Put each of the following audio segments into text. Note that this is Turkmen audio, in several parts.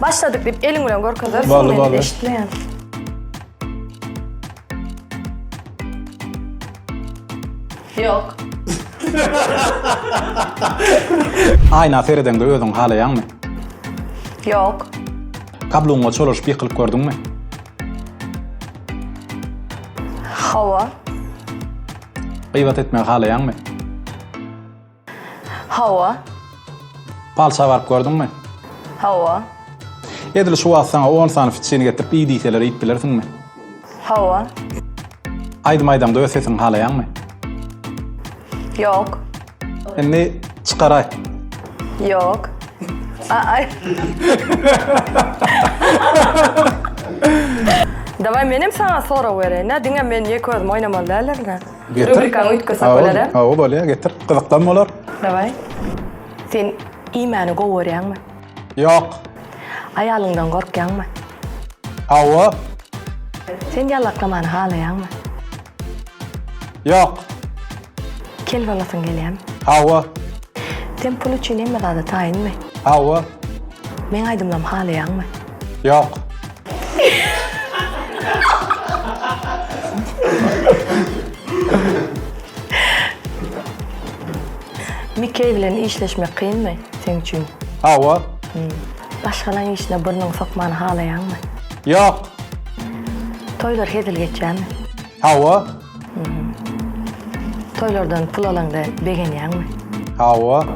Başladyk diýip eliň bilen görkezersiň. Bally, bally. Eşitmeýän. Yok. Aýna seredeňde özüň halaýaňmy? Yok. Kabluňa çolaşyp ýykylyp gördüňmi? Hawa. Gyýbat etmegi halaýaňmy? Hawa. Palça baryp gördüňmi? Hawa. Edil şu wagt saňa on sany fitçini getirip iý diýseler iýip bilersiňmi? Hawa. Aýdym aýdaňda öz sesiňi halaýaňmy? Ýok. Indi çykar aýt. Ýok. Aý. Daway menem saňa sorag bereýin-ä, diňe men ýeke özüm oýnamaly däldirin-ä. Rubrikany üýtgesek bolar-a? Hawa, bolýar, getir. Gyzyklam bolar. Daway. Sen iýmäni gowy görýäňmi? Ýok. Aýalyňdan gorkýaňmy? Hawa. Sen ýallaklamany halaýaňmy? Ýok. Kel bolasyň gelýärmi? Hawa. Sen pul üçin hemme zada taýynmy? Hawa. Meň aýdymlarymy halaýaňmy? Ýok. Mikeý bilen işleşmek kynmy seň üçin? Hawa. Başgalaň işine burnuňy sokmany halaýaňmy? Ýok. Toýlar hezil geçýärmi? Hawa. Toýlardan pul alaňda begenýäňmi? Hawa.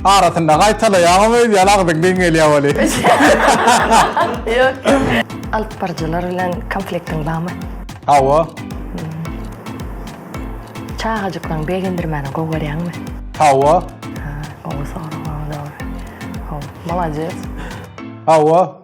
Arasynda gaýtalaýaňam öýdýän agzyň geň gelýä weli. Ýok. Alyp baryjylar bilen konfliktiň barmy? Hawa. Çagajyklaryňy begendirmäni gowy görýäňmi? Hawa. Gowy sorag, gowy dogry. Gowy. Molades. Hawa.